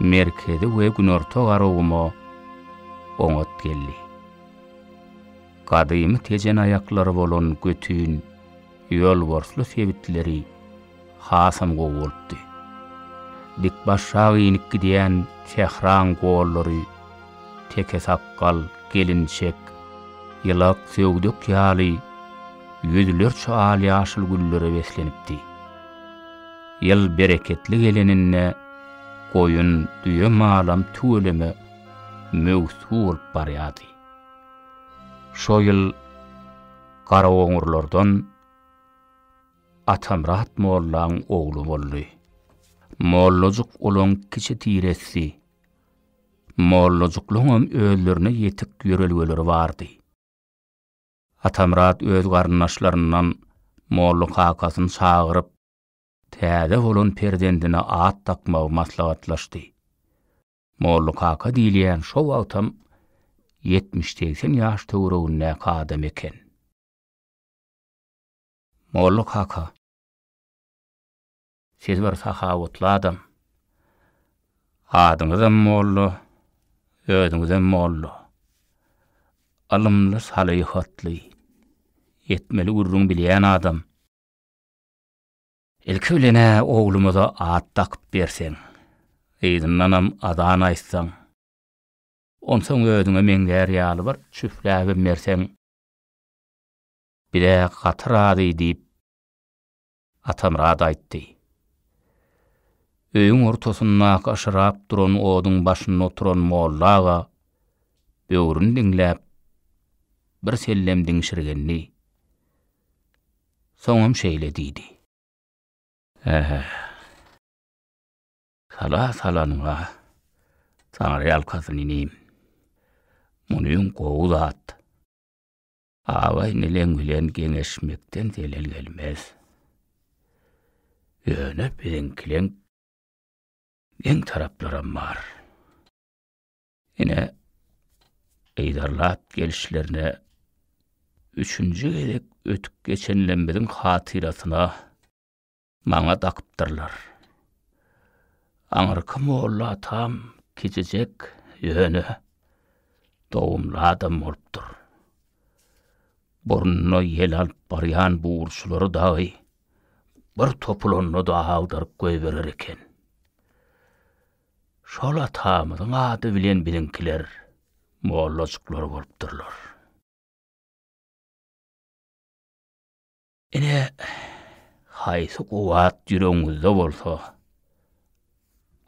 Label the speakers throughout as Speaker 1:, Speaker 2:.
Speaker 1: Merkezi we Günorta Garaguma oňat geldi. Gadymy tejen aýaklary bolan Götün, Ýolborsly sebitleri hasam gowy bolupdy. Dikbaşrak inip gidýän sähraň gollary Tekesakgal, Gelinçek, Ýylak, Söwdek ýaly ýüzlerçe al-ýaşyl güllere beslenipdi. Ýyl bereketli geleninde goýun, düýe malam tüweleme möwsü bolup barýardy. Şo ýyl Garaoňurlardan Atamyrat mollaň ogly boldy. Mollajyk olaň kiçi tiressi. Mollajyklaňam özlerine ýetik ýörelgeleri bardy. Atamyrat öz garyndaşlaryndan molla kakasyny çagyryp, täze bolan perzendine at dakmagy maslahatlaşdy. Molla kaka diýilýän şo wagtam ýetmiş-segsen ýaş töweregindäki adam eken. Molla kaka, siz bir sahawatly adam. Adyňyzam molla, özüňizem molla. Ylymly, salyhatly, etmeli gürrüň bilýän adam. Ilki bilen-ä oglumyza at dakyp berseň, yzyndanam azan aýtsaň, onsoň özüňe meňzär ýaly bir çüfläbem berseň, biz-ä gaty razy, diýip, Atamyrat aýtdy. Öýüň ortasyndaky yşyrap duran oduň başynda oturan molla aga böwrüni diňläp, birsellem diňşirgendi. Soňam şeýle diýdi. Ähä. Sala salanyň-a, taňryýalkasyn inim. Munym gowy zat. Aga-inileň bilen geňeşmekden zelel gelmez. Ýöne biziňkileň geň taraplaram bar. Ine, yzarlap gelişlerine üçünji gezek ötüp geçenlemiziň hatyrasyna maňa dakypdyrlar. Aňyrky molla atam kiçijek, ýöne dogumly adam bolupdyr. Burnuna ýel alyp barýan buwurçylary dagy bir topulanda-da agdaryp goýberer eken. Şol atamyzyň ady bilen biziňkiler mollajyklar bolupdyrlar. Ine, haýsy kuwwat ýüregiňizde bolsa,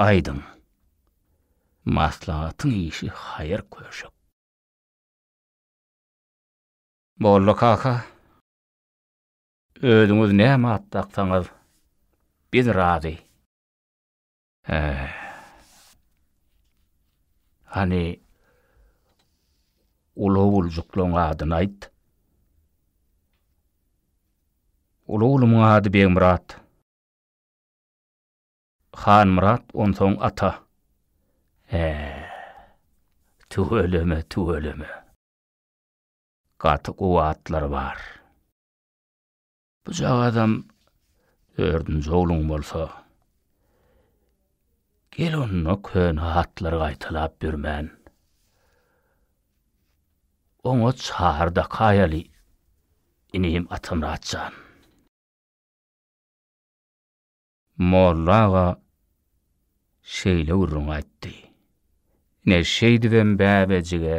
Speaker 1: aýdyň. Maslahatyň işi haýyr köşek. Molla kaka, özüňiz näme at daksaňyz, biz razy. Äh. Hany uly oguljyklaň adyny aýt. Uly oglumyň ady Begmyrat. Hanmyrat onsoň ata. Äh. Tüweleme, tüweleme. Gaty gowy atlar bar. Bujagazam dördünji ogluň bolsa, gel onda köne hatlary gaýtalap ýörmän, oňat şary dakaýaly, inim Atamyrat jan. Molla aga şeýle gürrüň aýtdy. Ine, şeýdibem bäbejige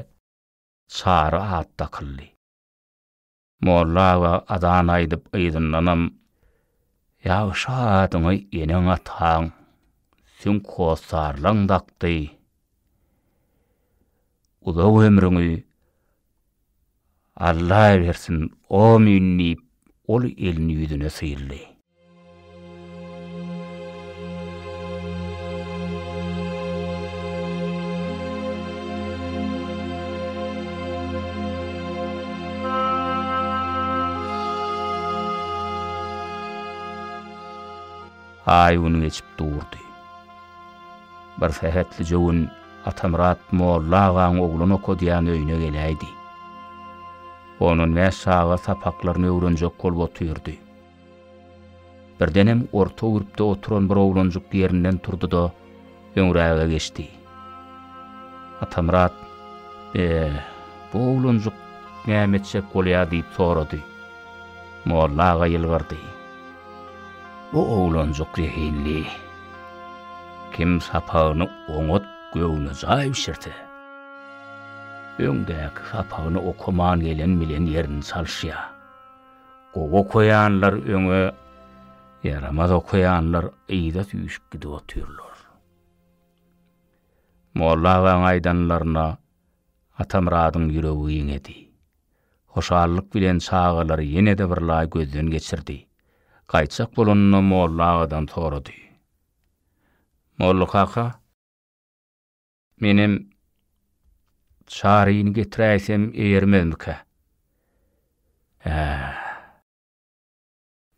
Speaker 1: çary at dakyldy. Molla aga azan aýdyp yzyndanam, Ýagşy adyňy eneň-ataň, süňk hossarlaň dakdy. Uzak ömrüňi Alla bersin, omyn diýip, ol elini ýüzüne syldy. Aý-gün geçip durdy. Bir sähetlije gün Atamyrat molla agaň oglan okadýan öýüne geläýdi. Ondan bäş çaga sapaklaryny öwrenjek bolup otyrdy. Birdenem orta gürpde oturan bir oglanjyk ýerinden turdy-da, öňräge geçdi. Atamyrat, Be, bu oglanjyk näme etjek bolýar diýip sorady. Molla aga ýylgyrdy. Bu oglanjyk zehinli. Kim sapagyny oňat göwnejaý bişirse, öňdäki sapagyny okaman gelen bilen ýerini çalyşýar. Gowy okaýanlar öňe, ýaramaz okaýanlar yza süýşüp gidip otyrlar. Molla agaň aýdanlaryna Atamyradyň ýüregi ýeňedi. Hoşallyk bilen çagalary ýene-de birlaý gözden geçirdi. Gaýtjak bolanda Molla agadan sorady. Mollakaka! Menem Çaryny getiräýsem eýermezmikä? Hä.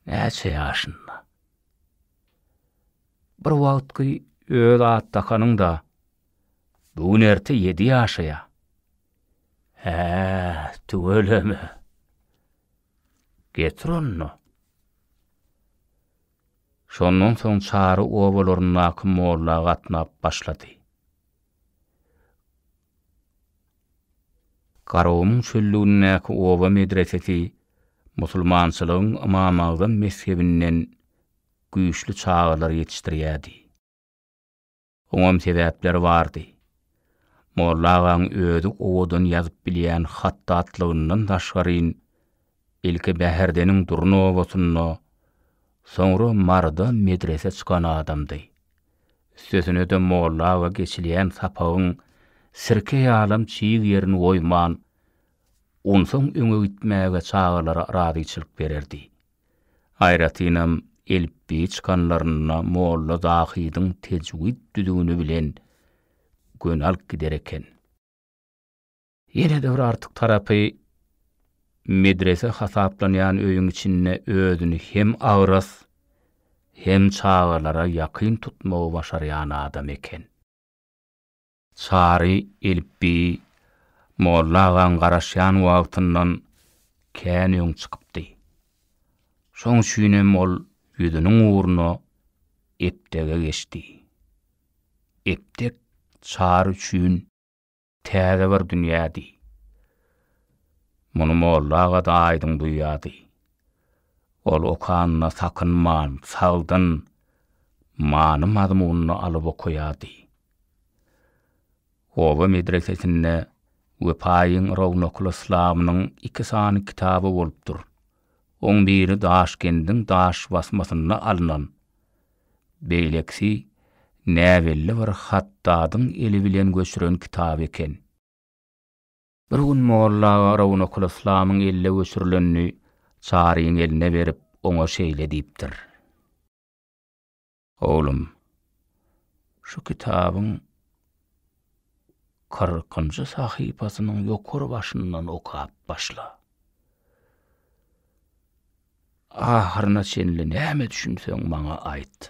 Speaker 1: Näçe ýaşynda? Bir wagtky öz at dakanyň-da, bu gün erte ýedi ýaşaýa. Hä, tüweleme. Getir onda. Şondan soň çary obalaryndaky molla gatnap başlady. Garagumuň çöllügindäki oba medresesi musulmançylygyň Ymamagzam mezhebinden güýçli çagalar ýetişdirýärdi. Oňam sebäpleri bardy. Molla agaň özi owadan ýazyp bilýän hatdatlygyndan daşgaryn, ilki Bäherdeniň Durna obasynda, soňra Maryda medrese çykan adamdy. Üstesine-de molla aga geçilýän sapagyň sirke ýalam çig ýerini goýman, onsaň öňe gitmäge çagalara razyçylyk bererdi. Aýratynam elipbiýi çykanlarynda molla Zahydyň tejwid düzgüni bilen göni alyp gider eken. Ýene-de bir artyk tarapy, medrese hasaplanýan öýüň içinde özüni hem agras, hem çagalara ýakyn tutmagy başarýan adam eken. Çary elipbi Molla agaň garaşýan wagtyndan kän öň çykypdy. Şoň üçinem ol ýüzüniň ugruna Eptege geçdi. Eptek Çary üçin täze bir dünýädi. Muny Molla aga-da aýdyň duýýardy. Ol okanyna sakynman, sagdyn, many-mazmunyny alyp okaýardy. Oba medresesinde Wepaýyň rownakly yslamynyň iki sany kitaby bolupdyr. Oň biri Daşkendiň daş basmasynda alnan, beýlekisi näbelli bir hatdadyň eli bilen göçüren kitaby eken. Bir gün molla aga rownakly yslamyň elde göçürilenini Çaryň eline berip, oňa şeýle diýipdir. Oglum, şu kitabyň kyrkynjy sahypasynyň ýokary başyndan okap başla. Ahyryna çenli näme düşünseň maňa aýt.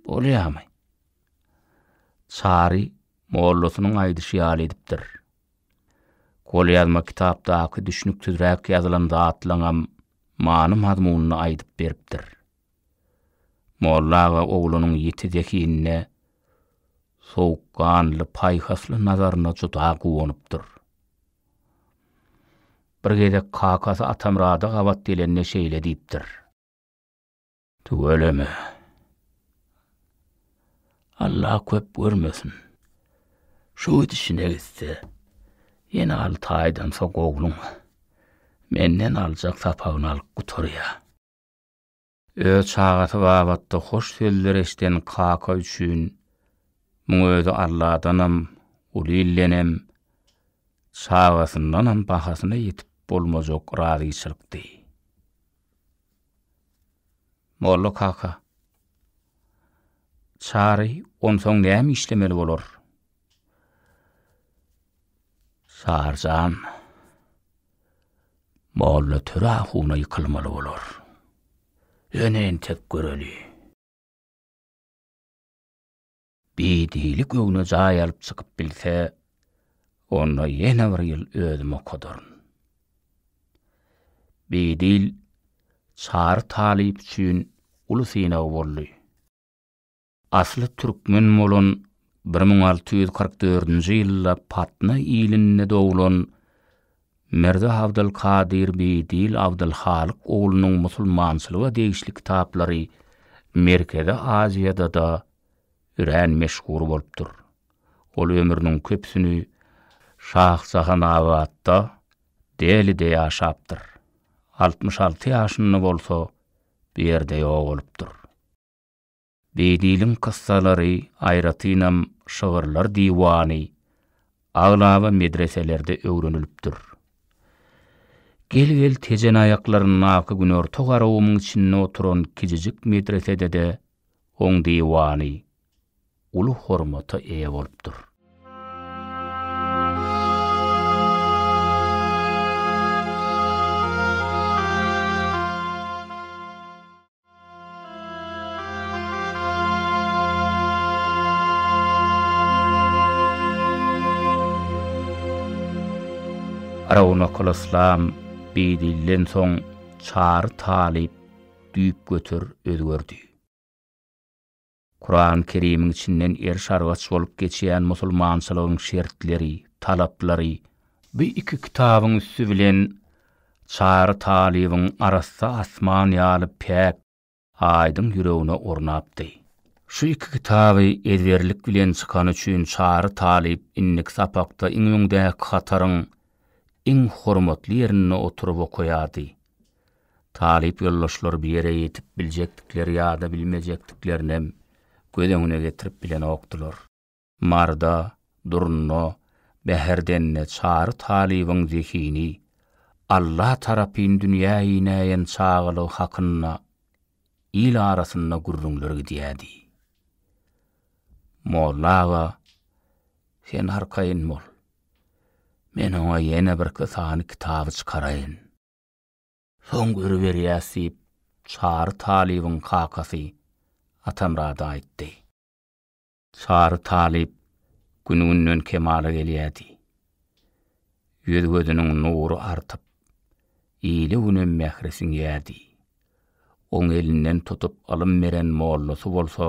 Speaker 1: Bolýamy? Çary Mollasynyň aýdyşy ýaly edipdir. Golýazma kitapdaky düşnüksizräk ýazylan zatlaňam many-mazmunyny aýdyp beripdir. Molla aga oglunyň ýiti zehinine, sowukganly, paýhasly nazaryna juda guwanypdyr. Bir gezek kakasy Atamyrada gabat gelende şeýle diýipdir. Tüweleme. Alla köp görmesin. Şu gidişine gitse, ýene alty aýdan soň ogluň menden aljak sapagyny alyp gutarýar. Öz çagasy babatda hoş sözler eşden kaka üçin muň özi Alladanam, Gulildenem, çagasyndanam bahasyna ýetip bolmajak razyçylykdy. Molla kaka. Çary, onsoň näme işlemeli bolar? Çary jan, Molla Töre ahuna ýykylmaly bolar. Ýöne entek göreli. Bidili göwne jaý alyp çykyp bilse, onda ýene bir ýyl özüm okadaryn. Bidil Çary talyp üçin uly synag boldy. Asly türkmen bolan bir müň alty ýüz kyrk dördünji ýylda Patna ilinde doglan Mirza Abdyl Kadyr Bidil Abdyl Halyk oglunyň musulmançylyga degişli kitaplary Merkezi Aziýada-da örän meşhur bolupdyr. Ol ömrüniň köpüsini Şahjahanabatda, Delide ýaşapdyr. Altmyş alty ýaşynda bolsa bu ýerde ýogalypdyr. Beýdiliň kyssalary, aýratynam şygyrlar diwany aglaba medreselerde öwrenilipdir. Gel-gel Tejen aýaklaryndaky günorta garawumyň içinde oturan kijijik medresede-de Oň diwany uly hormata eýe bolupdyr. Rawnakolyslam beýdilden soň Çary talyp düýpgöter özgerdi. Kurany Kerimiň içinden eriş-argaç bolup geçýän musulmançylygyň şertleri, talaplary, bu iki kitabyň üsti bilen Çary talybyň arassa asman ýaly päk, aýdyň ýüregine ornapdy. Şu iki kitaby ezberlik bilen çykany üçin Çary talyp indiki sapakda iň öňdäki hataryň iň hormatly ýerinde oturyp okaýardy. Talyp ýoldaşlar bu ýere ýetip biljekdikleri ýa-da bilmejekdiklerinem göz öňüne getirip bilenokdylar. Marda, Durna, Bäherdende Çary talybyň zehini Alla tarapyn dünýä inäýen çagalygy hakynda il arasynda gürrüňler gidýärdi. Molla aga, sen arkaýyn bol. Men oňa ýene birki sany kitaby çykaraýyn. Soň görüberýäs diýip, Çary talybyň kakasy Atamyrada aýtdy. Çary talyp gün-günden kemala gelýärdi. Ýüz-gözüniň nury artyp, ile günem mähri siňýärdi. Oň elinden tutup ylym beren mollasy bolsa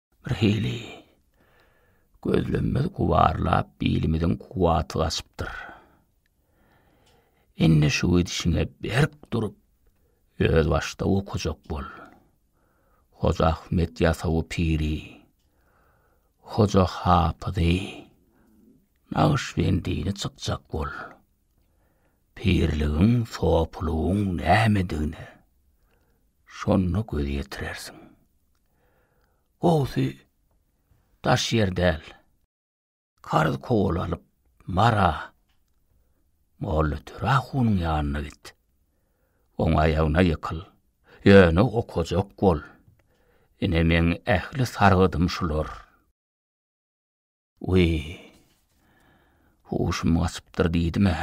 Speaker 1: Birhili gözlemimiz gubarlap, bilimiziň kuwwaty gaçypdyr. Indi şu gidişiňe berk durup, özbaşdak okajak bol. Hoja Ahmet Ýasawy piri, Hoja Hapyzy Nagyşbendini çykjak bol. Pirligiň, sopylygyň nämedigine şonda göz ýetirersiň. Gowusy daş ýer däl. Karz kowalalyp Mara Mollatöre hunyň ýanyna git. Oň aýagyna ýykyl. Ýöne okajak bol. Ine meň ähli sargydym şular. Wiý. Huşum gaçypdyr diýdim-ä.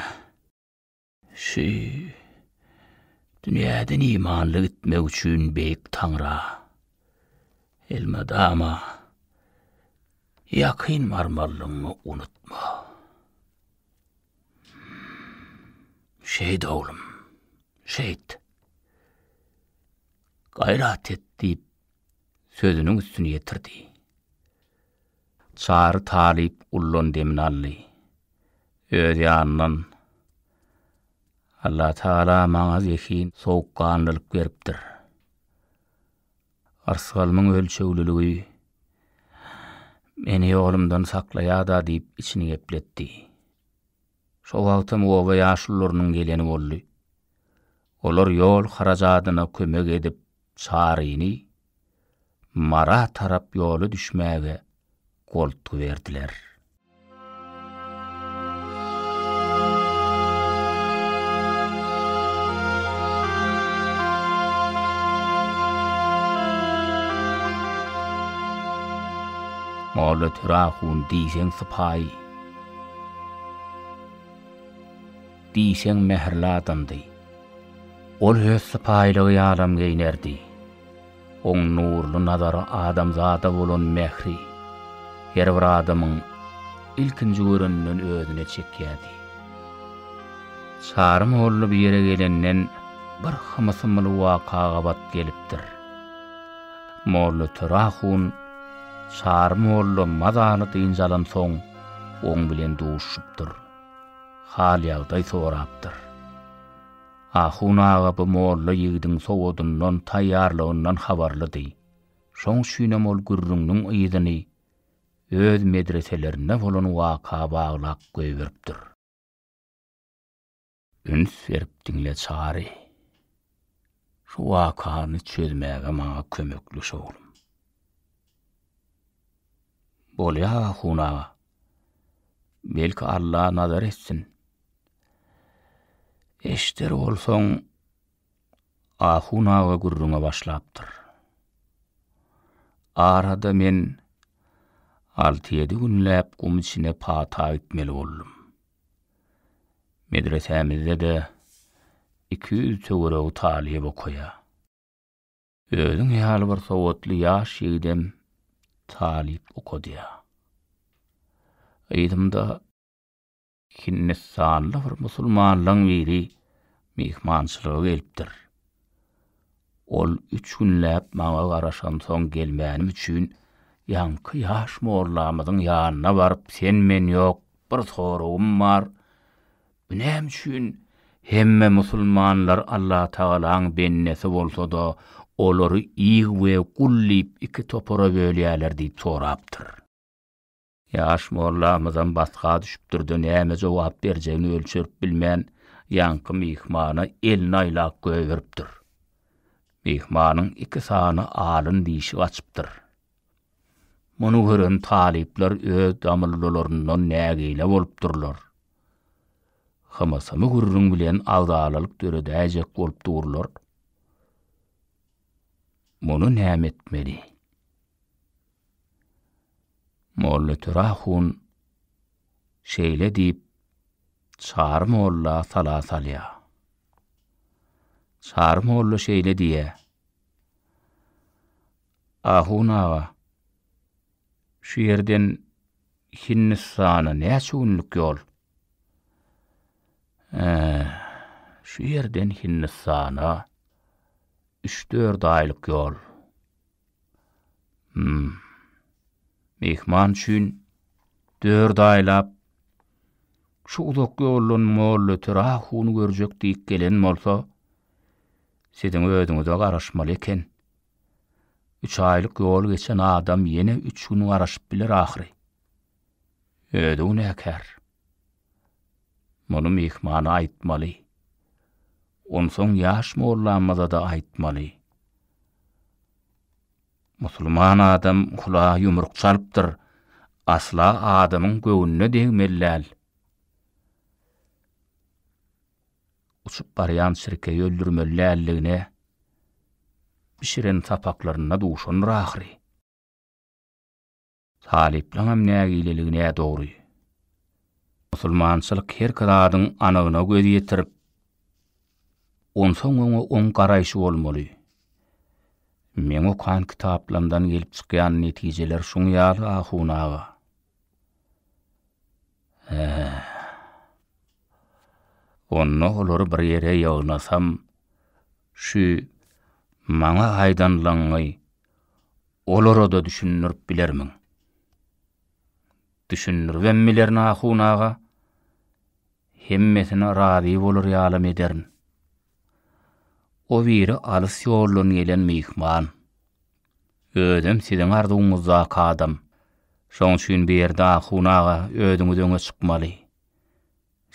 Speaker 1: Şu dünýäden imanly gitmek üçin Beýik Taňra, elmydama ýakyn barmalygyňy unutma. Şeýt oglum, şeýt. Gaýrat et diýip, sözüniň üstüni ýetirdi. Çary talyp ullan demini aldy. Öz ýanyndan, Allatagala maňa zehin, sowukganlylyk beripdir. Yrsgalymyň ölçegliligi meni ýolumdan saklaýar-da diýip içini gepletdi. Şo wagtam oba ýaşulularynyň geleni boldy. Olar ýol harajadyna kömek edip Çaryny Mara tarap ýola düşmäge goltgy berdiler. Molla Töre ahun diýseň sypaýy. Diýseň mähirli adamdy. Ol öz sypaýylygy ýalam geýnerdi. Oň nurly nazary adamzada bolan mähri her bir adamyň ilkinji göreninden özüne çekýärdi. Çary molla bu ýere gelenden bir hymysymyly waka gabat gelipdir. Mollatöre ahun Çary molla mazaly dynç alansoň, Oň bilen duşupdyr. Hal-ýagdaý sorapdyr. Ahun aga bu molla ýigidiň sowadyndan, taýýarlygyndan habarlydy. Şoň üçinem ol gürrüňiniň yzyny öz medreselerinde bolan waka baglap goýberipdir. Üns berip diňle Çary. Şu wakany çözmäge maňa kömekleş oglum. Bolýa ahun aga. Belki Alla nazar etsin. Eşder bolsaň ahun aga gürrüňe başlapdyr. Arada men alty-ýedi günläp gum içine pata gitmeli boldum. Medresämizde-de iki ýüz töweregi talyp okaýar. Özüň ýaly bir sowatly ýaş ýigidem talyp okadýar. Yzymda Hindistanly bir musulmanlaň biri myhmançylyga gelipdir. Ol üç günläp maňa garaşansoň gelmänim üçin, ýaňky ýaş mollamyzyň ýanyna baryp, sen-men ýok, bir soragym bar, bu näme üçin hemme musulmanlar Allatagalaň bendesi bolsa-da, olary ig we gul diýip iki topara bölýärler diýip sorapdyr. Ýaş mollamyzam batga düşüpdir-de, näme jogap berjegini ölçerip bilmän, ýaňky myhmana elini aýlap goýberipdir. Myhmanyň iki sany alyn dişi gaçypdyr. Muny gören talyplar öz damyllylaryndan nägile bolupdyrlar. Hymysymy gürrüň bilen agzalalyk döredäýjek bolup durlar. Muny näme etmeli? Mollatöre ahun şeýle diýip, Çary molla sala salýar. Çary molla şeýle diýýär. Ahun aga, şu ýerden Hindistana näçe günlük ýol? Hä, şu ýerden Hindistana üç-dört aýlyk ýol. Hum. Myhman üçin dört aýlap şu uzak ýoldan Mollaöter ahuny görjek diýip gelen bolsa, siziň özüňize garaşmaly eken. Üç aýlyk ýol geçen adam ýene üç gün garaşyp biler ahyry. Özi günäkär. Muny myhmana aýtmaly. Onsoň ýaş mollamyza-da aýtmaly. Musulman adam kula ýumruk çalypdyr, asla adamyň göwnüne degmeli däl. Uçup barýan çirkegi öldürmeli däldigine bişiren sapaklarynda duşandyr ahyry. Talyplaňam nägileligi nädogry. Musulmançylyk herki zadyň anygyna göz ýetirip, onsoň oňa oň garaýşy bolmaly. Meň okan kitaplamdan gelip çykýan netijeler şuň ýaly ahun aga. Hä. Onda olary bir ýere ýygnasam, şu maňa aýdanlaňňy olara-da düşündirip bilermiň? Düşündiribem bilerin, ahun aga. Hemmesine razy bolar ýalam ederin. O biri alys ýoldan gelen myhman. Özem siziň arzuwyňyzdaky adam. Şoň üçin Berdi ahun aga özüňiz öňe çykmaly.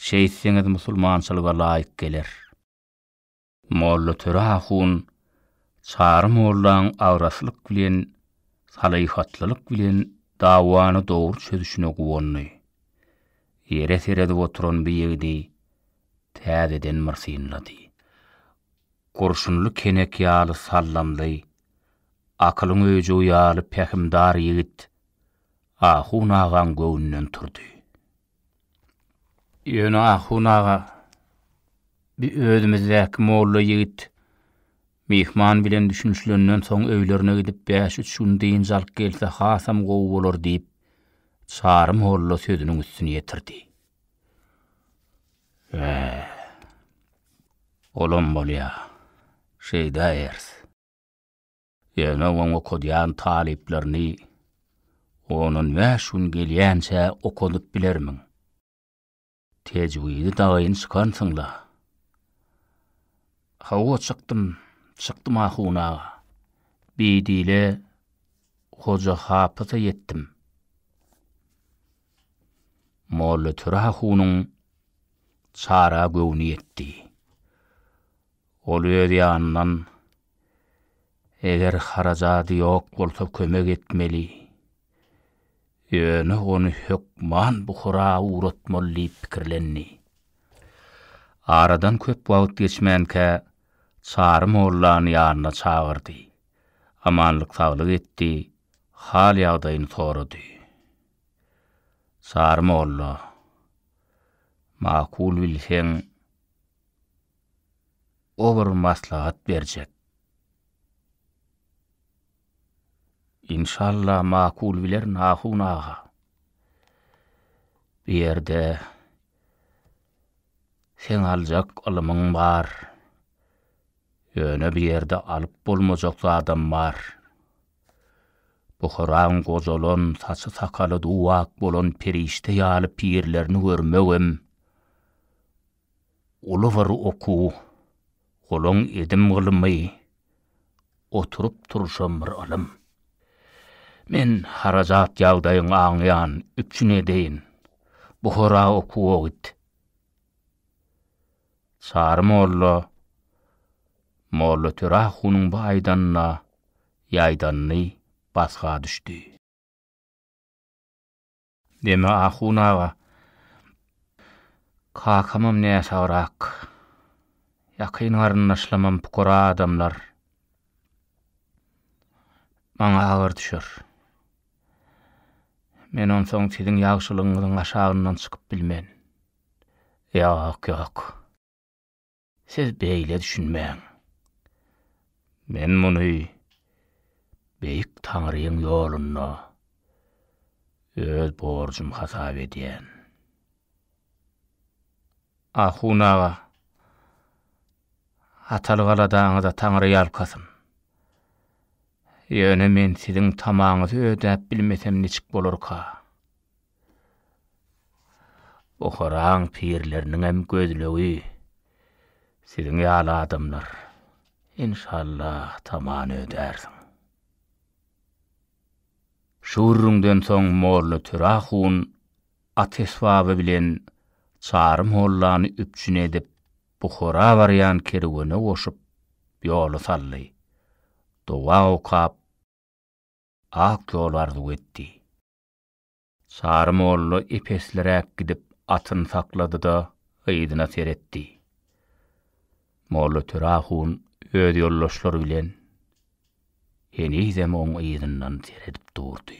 Speaker 1: Şeýtseňiz musulmançylyga laýyk geler. Mollatöre ahun Çary mollaň agraslyk bilen, salyhatlylyk bilen dawany dogry çözüşine guwandy. Ýere seredip oturan bu ýigidi täzeden bir synlady. Gurşunly kenek ýaly sallamly, akylyň öýjügi ýaly pähimdar ýigit Ahun agaň göwnünden turdy. Ýöne Ahun aga, bi özümizdäki molla ýigit myhman bilen düşünişlenden soň öýlerine gidip bäş-üç gün dynç alyp gelse hasam gowy bolar diýip, Çary molla sözüniň üstüni ýetirdi. Hä. Olam bolýa. Şeýdäýeris. Ýöne oň okadýan talyplaryny ondan bäş gün gelýänçä okadyp bilermiň? Tejwidi dagyn çykansyň-la? Hawa, çykdym, çykdym ahun aga. Bidile Hoja Hapysa ýetdim. Mollatöre ahunyň çara göwni ýetdi. Ol öz ýanyndan Eger harajady ýok bolsa kömek etmeli. Ýöne ony hökman Buhara ugratmaly diýip pikirlendi. Aradan köp wagt geçmänkä Çary mollany ýanyna çagyrdy. Amanlyk-saglyk etdi, hal-ýagdaýyny sorady. Çary molla, Makul bilseň, ober maslahat berjek. Inşallah makul bilerin Ahun aga. Bu ýerde seň aljak ylymyň bar. Ýöne bu ýerde alyp bolmajak zadam bar. Buharaň gojalan, saçy-sakaly duw-ak bolan perişde ýaly pirlerini görmegem Uly bir okuw, golaň edim gylymy, oturyp turşam bir ylym. Men harajat ýagdaýyň aňýan üpjün edeýin, Buhara okuwa git. Çary molla Mollatörä ahunyň bu aýdanyna ýaýdandy, basga düşdi. Deme ahun aga. Kakamam näsagrak. Ýakyn garyndaşlamam pukara adamlar. Maňa agyr düşer. Men onsoň siziň ýagşylygyňyzyň aşagyndan çykyp bilmen. Ýok, ýok. Siz beýle düşünmäň. Men muny Beýik Taňryň ýolunda öz borjum hasap edýän. Ahun aga, hataly galadaňyza Taňry ýalkasyn. Ýöne men siziň tamaňyzy ödäp bilmesem niçik bolarka? Buharaň pirleriniňem gözlegi siziň ýaly adamlar. Enşallah tamany ödärsiň. Şu gürrüňden soň molla Töre ahun at esbaby bilen Çary mollany üpjün edip, Buhara barýan kerwene goşup, ýoly saldy. Doga okap, ak ýol arzuw etdi. Çary molla epesliräk gidip atyny saklady-da, yzyna seretdi. Molla Töre hun öz ýoldaşlary bilen henizem oň yzyndan seredip durdy.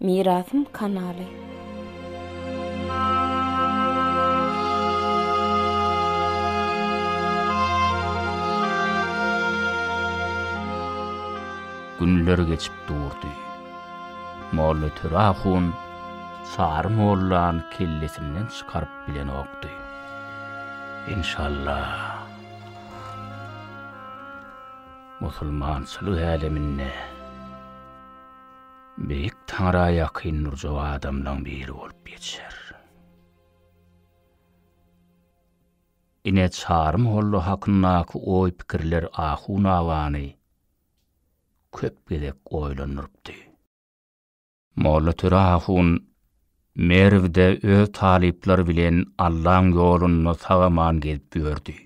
Speaker 1: Mirasym kanaly. Günler geçip durdy. Molla Töre ahun Sary mollany kellesinden çykaryp bilenokdy. Enşalla. Musulmançylyk äleminde. Beýik Taňra ýakyn durjak adamlaň biri bolup ýetişer. Ine Çary molla hakyndaky oý-pikirler Ahun agany köp gezek oýlandyrypdy. Mollatöre ahun Merwde öz talyplary bilen Allaň ýolunda sag-aman gezip ýördi.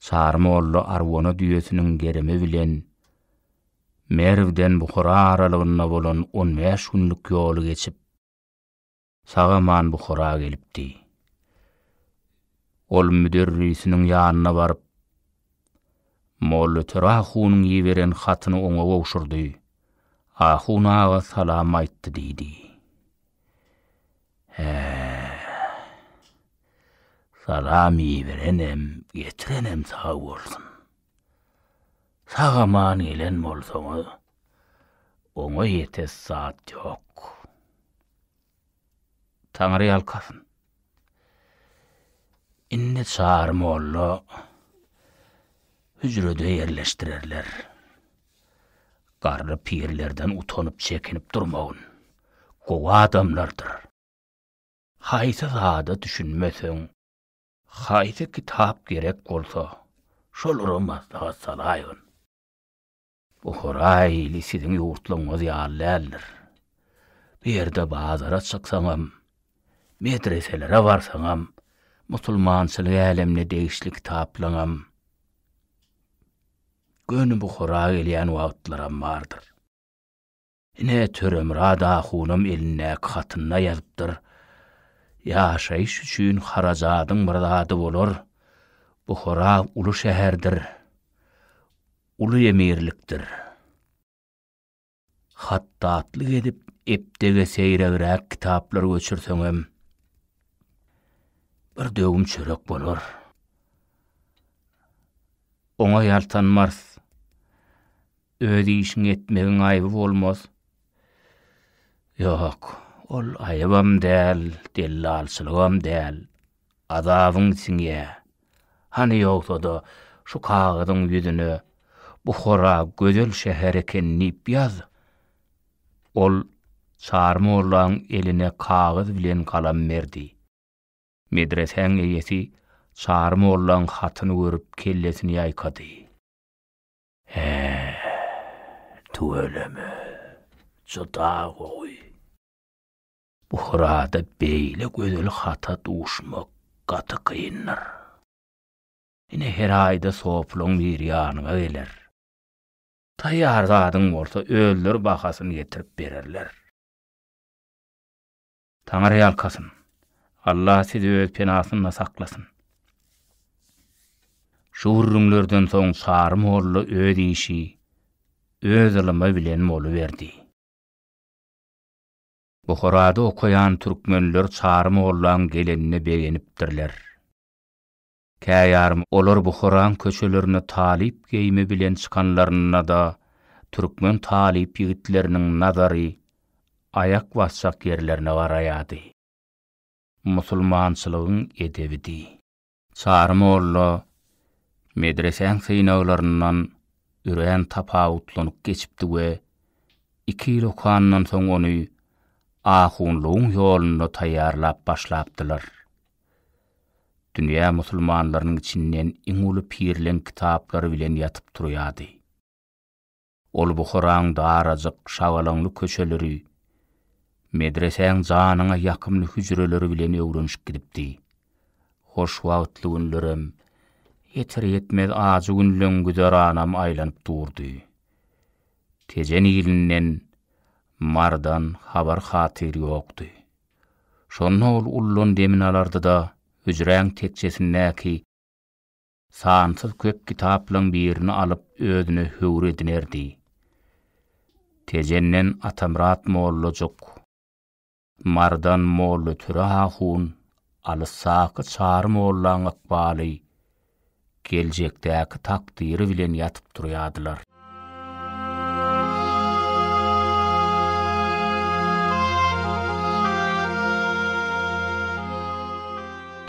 Speaker 1: Çary molla arwana düýesiniň gerimi bilen Merwden Buhara aralygynda bolan on bäş günlük ýoly geçip, sag-aman Buhara gelipdi. Ol müderrisiniň ýanyna baryp, Mollatöre ahunyň iberen hatyny oňa gowşurdy, Ahun aga salam aýtdy diýdi. Hä, salam iberenem, getirenem sag bolsun. Sag-aman gelen bolsaňyz, oňa ýetes zat ýok. Taňryýalkasyn. Indi Çary molla hüjrede ýerleşdirerler. Garry pirlerden utanyp-çekinip durmagyn. Gowy adamlardyr. Haýsy zada düşünmeseň, Haýsy kitap gerek bolsa, şolara maslahat salaýyn. Buhara ili siziň ýurtlaryňyz ýaly däldir. Bu ýerde bazara çyksaňam, medreselere barsaňam, musulmançylyk älemine degişli kitaplaňam, göni Buhara gelýän wagtlaram bardyr. Ine, Töremyrat ahunam elindäki hatynda ýazypdyr. Ýaşaýyş üçin harajadyň bir zady bolar. Buhara uly şäherdir. Uly emirlikdir. Hatdatlyk edip, epdege seýregräk kitaplar göçürseňem, bir döwüm çörek bolar. Oňa ýaltanmars. Öz işiňi etmegiň aýby bolmaz. Ýok, ol aýybam däl, dellalçylygam däl. Azabyň siňýä. Hany ýogsa-da, şu kagyzyň ýüzüne Buhara gözel şäher eken diýip ýaz. Ol Çary mollaň eline kagyz bilen galam berdi. Medresäň eýesi Çary mollaň hatyny görüp kellesini ýaýkady. Hää. Tüweleme. Juda gowy. Bu hyrada beýle gözel hata duşmak gaty kyndyr. Ine her aýda sopylaň biri ýanyňa geler. Taýýar zadyň bolsa özleri bahasyny getirip bererler. Taňyry ýalkasyn. Allah sizi öz penasynda saklasyn. Şu gürrüňlerden soň Çary molla öz işi, öz ylymy bilen boluberdi. Buharada okaýan türkmenler Çary mollaň gelenine begenipdirler. Kä ýarym olar Buharaň köçelerine talyp geýimi bilen çykanlarynda-da, türkmen talyp ýigitleriniň nazary aýak basjak ýerlerine garaýardy. Musulmançylygyň edebidi. Çary molla medresäň synaglaryndan örän tapawutlanyk geçipdi we iki ýyl okandan soň ony ahunlygyň ýolunda taýýarlap başlapdylar. Dünýä musulmanlarynyň içinden iň uly pirleň kitaplary bilen ýatyp turýardy. Ol Buharaň darajyk, şagalaňly köçeleri, medresäň janyňa ýakymly hüjreleri bilen öwrenişip gidipdi. Hoş wagtly günlerem, ýeter-ýetmez ajy günleň güzeranam aýlanyp durdy. Tejen ilinden Marydan habar-hatyr ýokdy. Şonda ol ullan demini alardy-da, hüjräň tekjesindäki sansyz köp kitaplaryň birini alyp özüne höwür edinerdi. Tejenden Atamyrat mollajuk, Mardan molla Töre ahun, alysdaky Çary mollaň ykbaly, geljekdäki takdyry bilen ýatyp turýardylar.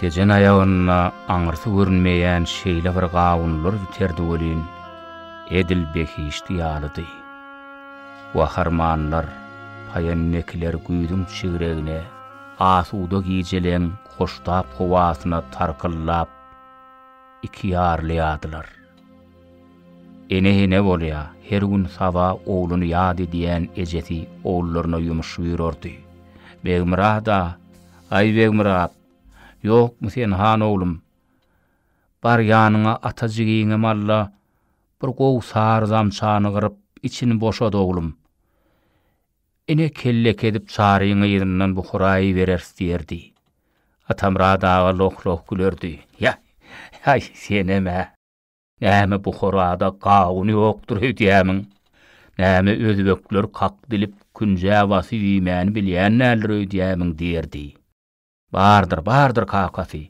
Speaker 1: Tejen aýagynda aňyrsy görünmeýän şeýle bir gawunlar biterdi welin, edil behişdi ýalydy. Gaharmanlar, paýennekiler güýzüň çigregine, asuda gijeleň hoştap howasyna tarkyllap, iki ýarlaýardylar. Ene ene bolýar, her gün saba ogluny ýat edýän ejesi ogullaryna ýumuş buýrardy. Begmyrat-a, aý Begmyrat, ýokmy sen han oglum? Barýanyňa ata jigiňe malla bir gowy sary zamçany gyryp, içini boşat oglum. Ine, kellek edip çaryň yzyndan bu huraýy bereris diýerdi. Atamyrat aga loh-loh gülerdi. Ýa-ýaý, senem-ä! Näme bu horada gawun ýokdur öýdýämiň? Näme özbekler kak dilip künjä basyp iýmäni bilýän däldir öýdýämiň? diýerdi. Bardyr, bardyr kakasy.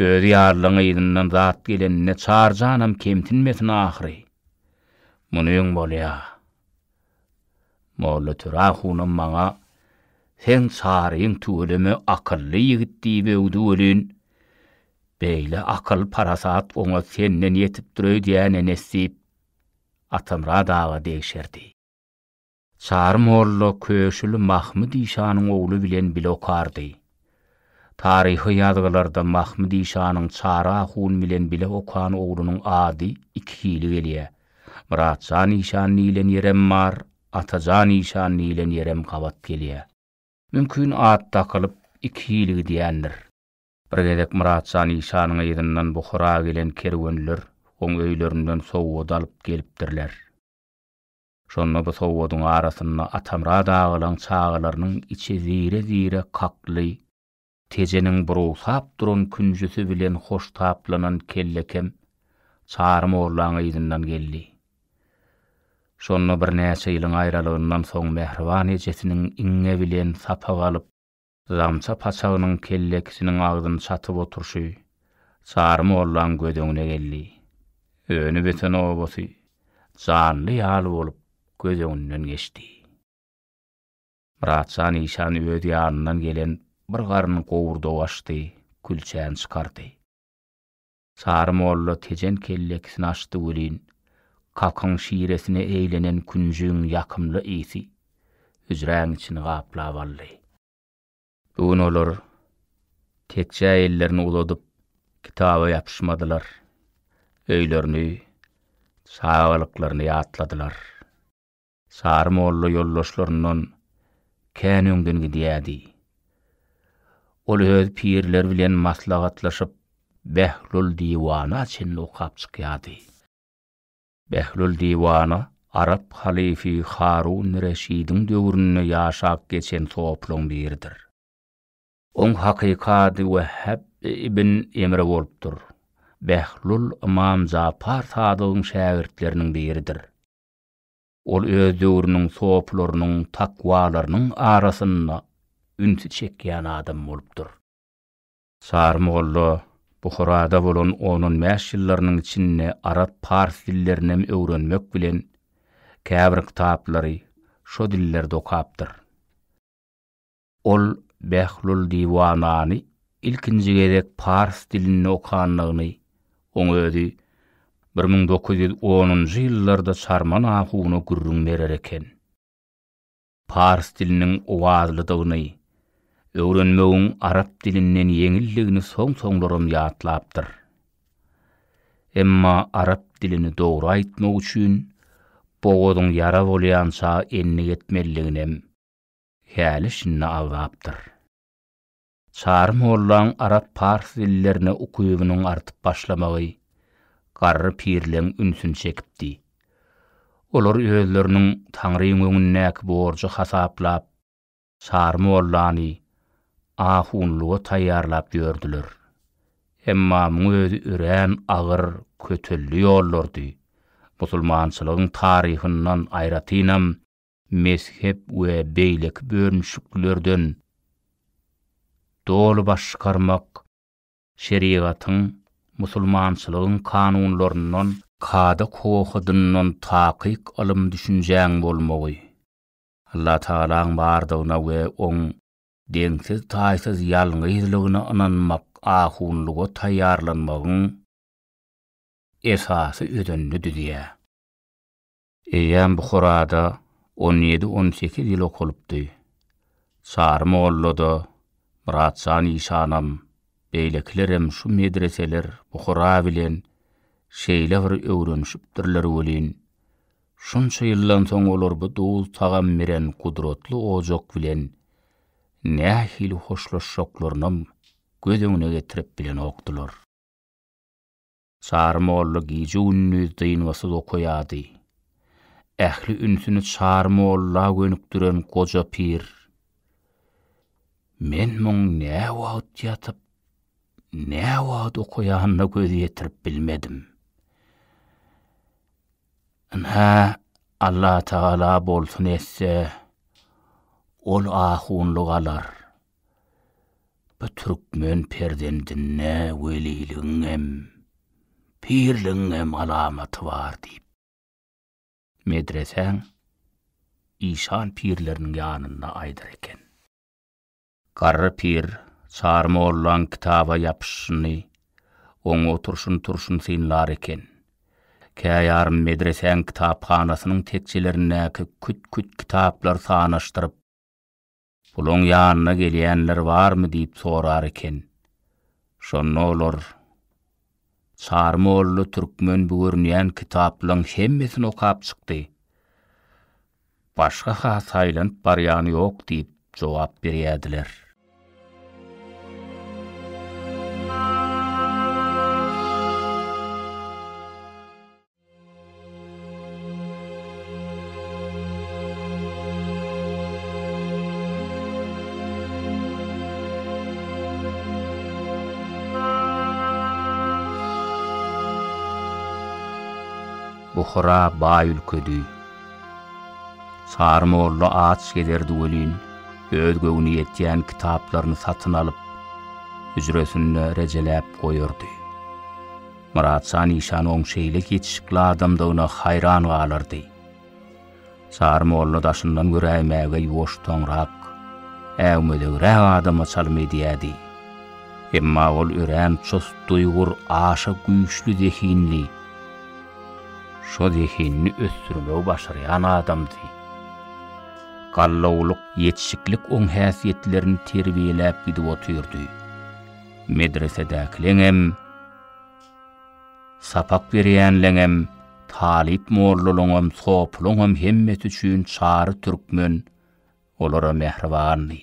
Speaker 1: Özi ýalylaň yzyndan zat gelenine çar janam kemsinmesin ahyry. Muny öň bolýa. Molla Töre hunam maňa Seň çaryň tüweleme akylly ýigit diýip öwdi welin, beýle akyl, parasat oňa senden ýetipdir öýdýän enesdiýip, Atamyrat aga degşerdi. Çary molla Köşüli Mahmyt işanyň ogly bilen bile okardy. Taryhy ýazgylarda Mahmyt işanyň Çary ahun bilen bile okan oglunyň ady iki hili gelýär, Myratjan işan diýlen ýerem bar, Atajan işan diýlen ýerem gabat gelýär. Mümkin at dakylyp iki hili gidýändir. Bir gezek Myratjan işanyň yzyndan Buhara gelen kerwenler oň öýlerinden sowgat alyp gelipdirler. Şonda bu sowadyň arasynda Atamyrat agalaň çagalarynyň içi zire-zire kakly, tejeniň burusap duran künjüsi bilen hoştaplanan kellekem Çary mollaň yzyndan geldi. Şonda birnäçe ýylyň aýralygyndan soň mähriban ejesiniň iňňe bilen sapak alyp, Zamça paçagynyň kellekisiniň agzyny çatyp oturyşy Çary mollaň göz öňüne geldi. Öni-böteni obasy janly ýaly bolup göz öňünden geçdi. Myratjan işan öz ýanyndan gelen bir garyn gowurdagy açdy, külçäni çykardy. Sary molla Tejen kellekisini açdy welin, kakyň şiresine eýlenen künjigiň ýakymly ysy hüjräň içini gaplap aldy. Bu gün olar tekjä ellerini uzadyp kitaba ýapyşmadylar, öýlerini, çagalyklaryny ýatladylar. Sary molla ýoldaşlaryndan kän öňden gidýärdi. Ol öz pirleri bilen maslahatlaşyp, Behlul Diwana çenli okap çykýardy. Behlul Diwana arap halyfy Harun Reşidiň döwründe ýaşap geçen sopylaryň biridir. Oň hakyky ady Wehhab ibn Emre bolupdyr. Behlul Ymam Japar Sadygyň şägirtleriniň biridir. Ol öz döwrüniň sopylarynyň, takwalarynyň arasynda ünsi çekýän adam bolupdyr. Sary molla Buharada bolan on-on bäş ýyllarynyň içinde arap, pars dillerini hem öwrenmek bilen, käbir kitaplary şo dillerde okapdyr. Ol Behlul Diwanany ilkinji gezek pars dilinde okanlygyny, oň özi bir müň dokuz ýüz onunjy ýyllarda Çarman ahuna gürrüň berer eken. Pars diliniň owazlydygyny, öwrenmegiň arap dilinden ýeňildigini soň-soňlaram ýatlapdyr. Emma arap dilini dogry aýtmak üçin bogazyň ýara bolýança endik etmelidiginem, Häli şindi agzapdyr. Çary mollaň arap-pars dillerine ukybynyň artyp başlamagy garry pirleň ünsüni çekipdi. Olar özleriniň Taňryň öňündäki borjy hasaplap, Çary mollany ahunlyga taýýarlap ýördüler. Emma muň özi örän agyr, kötelli ýollardy. Musulmançylygyň taryhyndan, aýratynam, mezhep we beýleki bölünişiklilerden doly baş çykarmak, şerigatyň, musulmançylygyň kanunlaryndan, kada-kowakydyndan takyk ylym-düşünjäň bolmagy, Allatagalaň bardygyna we Oň deňsiz-taýsyz ýalňyzlygyna ynanmak ahunlyga taýýarlanmagyň esasy özenini düzýär. Eýýäm Buharada on ýedi-on sekiz ýyl okalypdy. Çary molla-da, Myrat jan işanam, beýlekilerem şu medreseler Buhara bilen şeýle bir öwrenişipdirler welin, şunça ýyldan soň olar bu duz-tagam beren gudratly ojak bilen nähili hoşlaşjaklarynam göz öňüne getirip bilenokdylar. Çary molla gije-gündiz dyngysyz okaýardy. Ähli ünsüni Çary molla gönükdiren goja pir, Men muň näwagt ýatyp, näwagt okaýanyna göz ýetirip bilmedim. Ynha, Allatagala bolsun etse, ol ahunlyk alar. Bu türkmen perzendinde weliligiň hem, pirligiň hem alamaty bar diýip, medresäň işan pirleriniň ýanynda aýdar eken. Garry pir Çary mollaň kitaba ýapyşyny, oň oturşyny-turşyny synlar eken. Käýarym medresäň kitaphanasynyň tekjelerindäki küt-küt kitaplar sanaşdyryp, Puluň ýanyna gelýänler barmy diýip sorar eken. Şonda olar, Çary molla türkmen bu görünýän kitaplaň hemmesini okap çykdy. Başga-ha saýlanyp barýan ýok diýip jogap berýärdiler. Buhara baý ülkedi. Sary molla aç gezerdi welin, öz göwni ýetýän kitaplaryny satyn alyp, hüjresinde rejeläp goýardy. Myrat şa Nyşanowyň şeýle ýetişikli adamdygyna haýran galardy. Çary molla daşyndan göräýmäge ýuwaştaňrak, äwmezegräk adama çalym edýärdi. Emma ol örän çust duýgur, aşa güýçli zehinli, şo zehinini ösdürmegi başarýan adamdy. Gallawlyk, ýetişiklik oň häsiýetlerini terbiýeläp gidip otyrdy. Medresedäkileňem, sapak berýänleňem, talyp-mollalaňam, sopulaňam hemmesi üçin Çary türkmen olara mähribandy.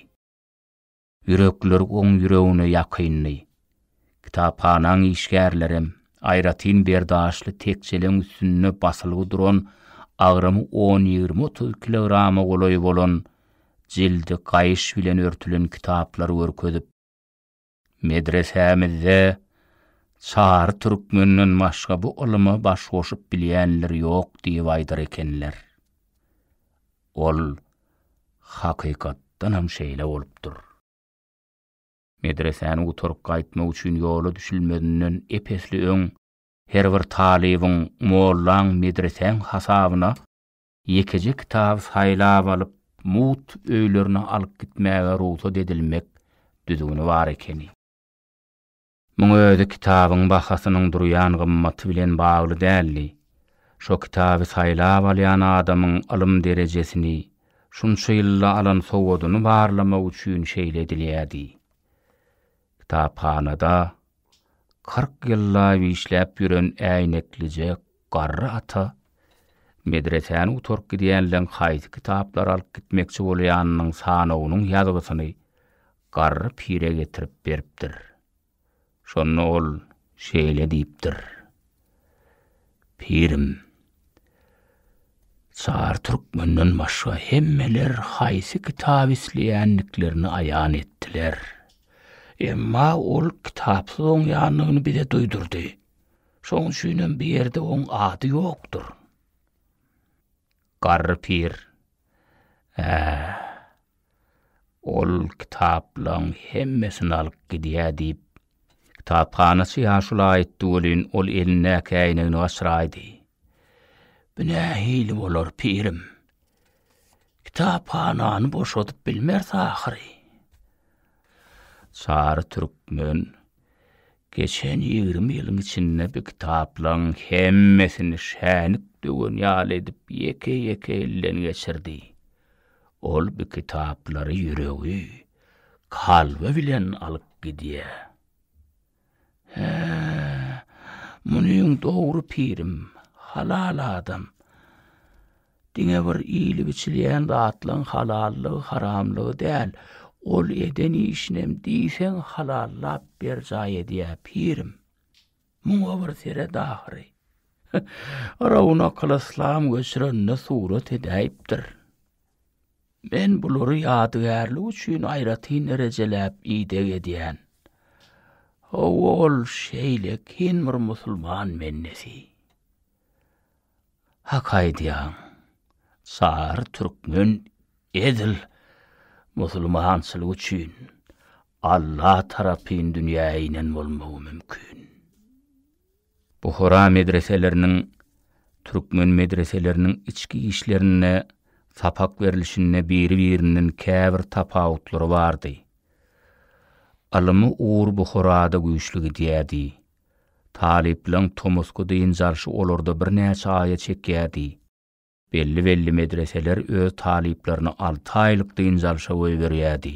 Speaker 1: Ýürekleri oň ýüregine ýakyndy. Kitaphanaň işgärlerem, aýratyn berdaşly tekjeleň üstünde basylgy duran agramy on-ýigrimi-otuz kilograma golaý bolan jildi gaýyş bilen örtülen kitaplary görkezip, Medresämizde çary türkmenden başga bu ylyma baş goşup bilýänler ýok diýip aýdar ekenler. Ol hakykatdanam şeýle bolupdyr. Medresäni gutaryp gaýtmak üçin ýola düşülmezinden ep-esli öň her bir talybyň mollaň medresäň hasabyna Ýekeje kitaby saýlap alyp, mugt öýlerine alyp gitmäge rugsat edilmek düzgüni bar ekeni. Muň özi kitabyň bahasynyň durýan gymmaty bilen bagly däldi. Şo kitaby saýlap alýan adamyň ylym derejesini, şunça ýylda alan sowadyny barlamak üçin şeýle edilýärdi. Kitaphanada kyrk ýyllap işläp ýören äýneklije Garry ata medresäni gutaryp gidýänleň haýsy kitaplary alyp gitmekçi bolýanynyň sanawynyň ýazgysyny garry pire getirip beripdir. Şonda ol şeýle diýipdir, Pirim, çar türkmenden başga hemmeler haýsy kitaby isleýändiklerini aýan etdiler. Emma ol kitapsyz oňýandygyny bize duýdurdy. Şoň üçinem bu ýerde oň ady ýokdur. Garry pir, Ä, ol kitaplaň hemmesini alyp gidýä, diýip, kitaphanaçy ýaşula aýtdy welin, ol elindäki äýnegini gaçyraýdy. Bu nähili bolar, pirim? Kitaphanany boşadyp bilmeris ahyry. Çary türkmen Geçen ýigrimi ýylyň içinde bi kitaplaň hemmesini şänik döwen ýaly edip ýeke-ýeke elden geçirdi. Ol bi kitaplary ýüregi, kalby bilen alyp gidýä. Hä, munyň dogry pirim, halal adam. Diňe bir iýlip-içilýän zatlaryň halallygy, haramlygy däl, ol eden işinem diýseň halallap berjaý edýär, pirim. Muňa bir seret ahyry. Rownakylyslam göçürende surat edäýipdir. Men bulary ýadygärlik üçin aýratyn rejeläp ideg edýän. Hawa, ol şeýle kyn bir musulman bendesi. Hak aýdýaň. Çary türkmen edil musulmançylyk üçin Alla tarapyn dünýä inen bolmagy mümkin. Buhara medreseleriniň türkmen medreseleriniň içki işlerinde sapak berilişinde biri-birinden käbir tapawutlary bardy. Ylymy ugur Buharada güýçli gidýärdi. Talyplaň tomusky dynç alşy olarda birnäçe aýa çekýärdi. Belli-belli medreseler öz talyplaryny alty aýlyk dynç alşa goýberýärdi.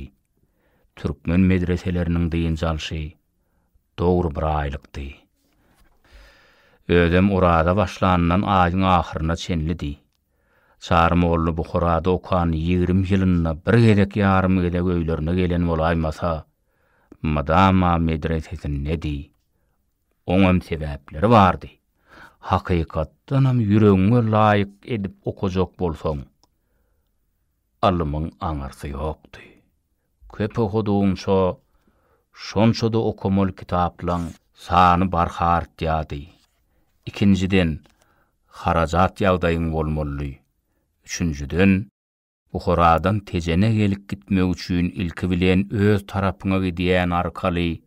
Speaker 1: Türkmen medreseleriniň dynç alşy dogry bir aýlykdy. Özem oraza başlanyndan aýyň ahyryna çenlidi. Çary molla Buharada okan ýigrimi ýylynda bir gezek ýarym gezek öýlerine gelen bolaýmasa, mydama medresesindedi. Oňam sebäpleri bardy. Hakykatdanam ýüregiňe laýyk edip okajak bolsaň, ylymyň aňyrsy ýokdy. Köp okadygyňça, şonça-da okamaly kitaplaň sany barha artýardy. Ikinjiden, harajat ýagdaýyň bolmalydy. Üçünjiden. Buharadan Tejene gelip gitmek üçin ilki bilen öz tarapyňa gidýän arkaly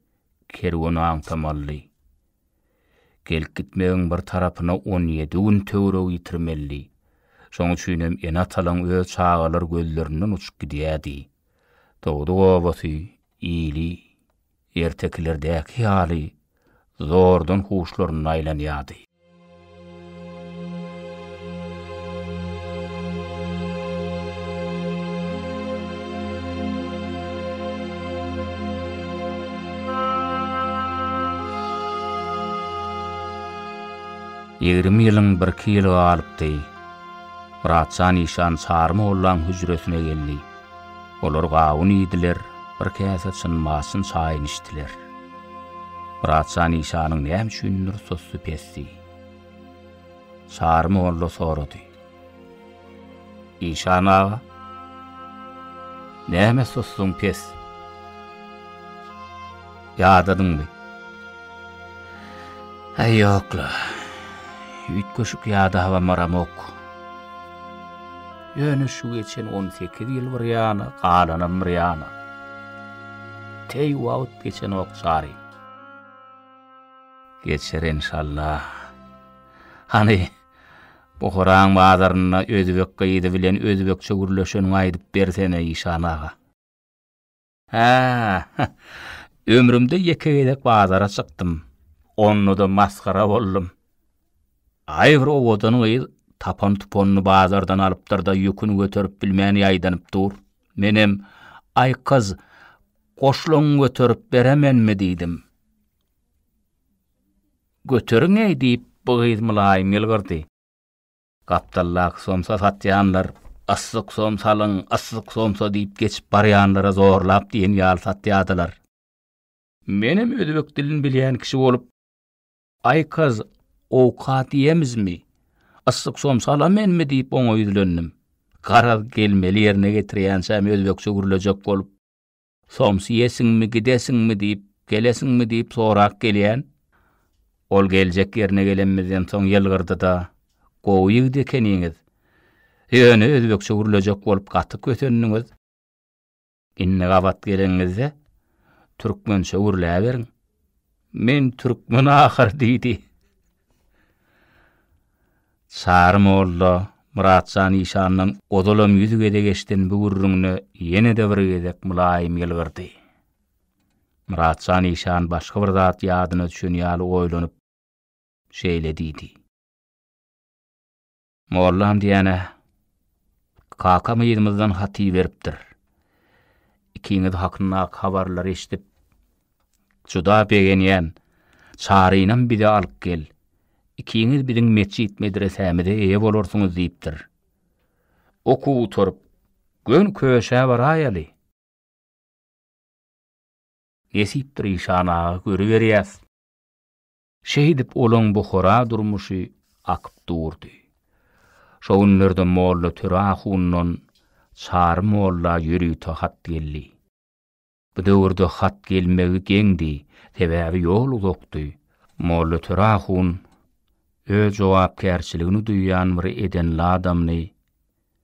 Speaker 1: kerweni aňtamalydy. Gelip gitmegiň bir tarapyna on ýedi gün töweregi ýitirmelidi. Şoň üçinem ene-atalaň öz çagalar gözlerinden uçup gidýärdi. Dogduk obasy, ili. Ertekilerdäki ýaly, zordan huşlarynda aýlanýardy. Ýigrimi ýylyň birki ýyly galypdy. Myratjan işan Çary mollaň hüjresine geldi. Olar gawun iýdiler, bir käse çyn-maçyn çaýyny içdiler. Myratjan işanyň näme üçindir sussy pesdi. Çary molla sorady. Işan aga, näme sussuň pes? Ýadadyňmy? Äý ýok-la, üýtgeşik ýadabamaramok. Ýöne şu geçen on sekiz ýyl bir ýana, galanam bir ýana. Teý wagt geçenok jarym. Geçer enşalla. Hany, Buharaň bazarynda özbek gyzy bilen özbekçe gürleşeniňi aýdyp bersene, Işan aga. Hä, ömrümde ýeke gezek bazara çykdym. Onda-da masgara boldum. Aý, bir owadan gyz tapan-tupanyny bazardan alypdyr-da, ýüküni göterip bilmän ýaýdanyp dur. Menem, Aý, gyz, goşlagyňy göterip beremenmi? diýdim. Göteriň-eý, diýip, bu gyz mylaýym ýylgyrdy. Gapdaldaky somsa satýanlar, Yssyk somsa alyň, yssyk somsa diýip geçip barýanlara zorlap diýen ýaly satýardylar. Menem özbek dilini bilýän kişi bolup, Aýkaz, owkat iýemizmi? Yssyk somsa alamenmi? diýip oňa ýüzlendim. Garaz, gelmeli ýerine getirýänçäm özbekçe gürlejek bolup. Soms iýesiňmi, gidesiňmi diýip, gelesiňmi diýip sorap gelýän. Ol geljek ýerine gelenimizden soň ýylgyrdy-da, Gowy ýigit ekeniňiz. Ýöne özbekçe gürlejek bolup gaty kösendiňiz. Indi gabat geleniňizde, türkmençe gürläberiň. Men türkmen ahyry diýdi. Çary molla Myratjan işandan ozalam ýüz gezek eşiden bu gürrüňine ýene-de bir gezek mylaýym ýylgyrdy. Myratjan işan başga bir zat ýadyna düşen ýaly oýlanyp, şeýle diýdi. Mollam diýýän-ä. Kakam yzymyzdan hat iberipdir. Ikiňiz hakynda habarlary eşidip, juda begenýän. Çarynam bize alyp gel. Ikiňiz biziň metjit-medresämize eýe bolarsyňyz diýipdir. Okuw gutaryp, göni köşä baraýaly. Nesipdir işan aga, görüberýäs. Şeýdip olaň Buhara durmuşy akyp durdy. Şo günlerde Molla Töre ahundan Çary molla ýörite hat geldi. Bu döwürde hat gelmegi geňdi, sebäbi ýol uzakdy. Molla Töre ahun öz jogapkärçiligini duýýan bir edenli adamdy.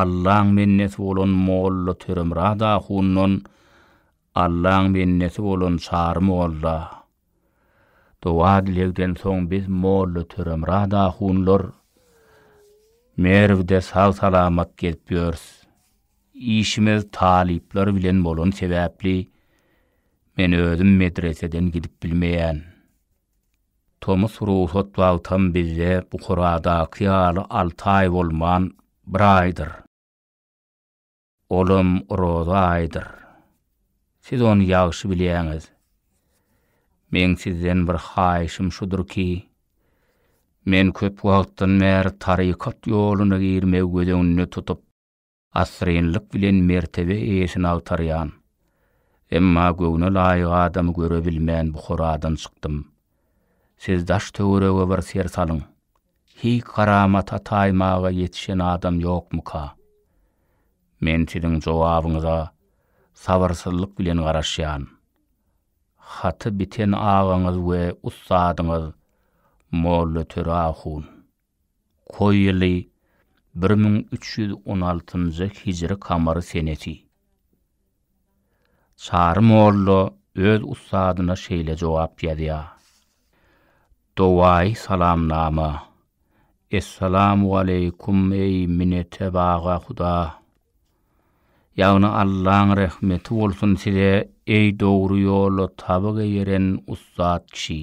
Speaker 1: Allaň bendesi bolan molla Töremyrat ahundan Allaň bendesi bolan Çary molla doga-dilegden soň biz molla Töremyrat ahunlar Merwde sag-salamat gezip ýörüs. Işimiz talyplar bilen bolan sebäpli men özüm medreseden gidip bilmeýän. Tomus rugsat wagtam bizde Buharadaky ýaly alty aý bolman, bir aýdyr. Olam oraza aýydyr. Siz ony ýagşy bilýäňiz. Meň sizden bir haýyşym şudur ki, men köp wagtdan bäri tarykat ýoluna girmegi göz öňünde tutup, asyrynlyk bilen mertebe eýesini agtarýan, emma göwne laýyk adamy göre bilmän Buharadan çykdym. Siz daş-töwerege bir ser salyň. Hiý karamata taýmaga ýetişen adam ýokmyka? Men siziň jogabyňyza sabyrsyzlyk bilen garaşýan. Haty biten agaňyz we ussadyňyz Molla Töre ahun. Koýuly bir müň üç ýüz on altynjy hijri kamary senesi. Çary molla öz ussadyna şeýle jogap ýazýar, Dowaýy salamnama, Essalamualeýkum eý minetebag-a huda! Ýagny Allaň rehmeti bolsun size eý dogry ýola tabygy ýeren ussat kişi!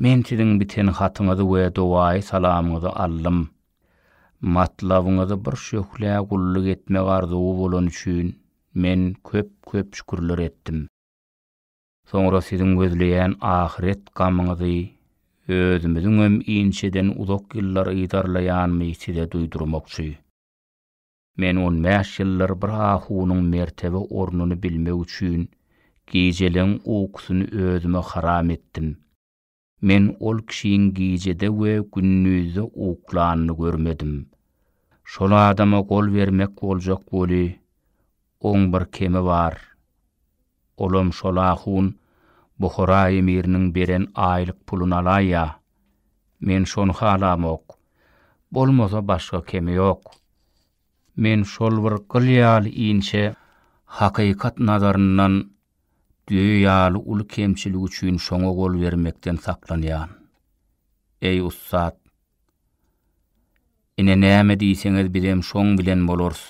Speaker 1: Men siziň biten hatyňyzy we dowaýy salamyňyzy aldym. Matlabyňyzy bir şöhlä gulluk etmek arzuwy bolany üçin men köp-köp şükürler etdim. Soňra siziň gözleýän ahyret gamyňyzy özümiziňem inçeden uzak ýyllar yzarlaýanymy size duýdurmakçy. Men on bäş ýyllar bir ahunyň mertebe ornuny bilmek üçin gijeleň ukusyny özüme haram etdim. Men ol kişiň gijede we gündizde uklanyny görmedim. Şol adama gol bermek boljak weli, oň bir kemi bar. Olam şol-a hun Buhara emiriniň beren aýlyk puluny alaýýa. Men şony halamok. Bolmasa başga kemi ýok. Men şol bir gyl ýaly inçe hakykat nazaryndan düýe ýaly uly kemçilik üçin şoňa gol bermekden saklanýan. Eý ussat! Ine näme diýseňiz bizem şoň bilen bolarys.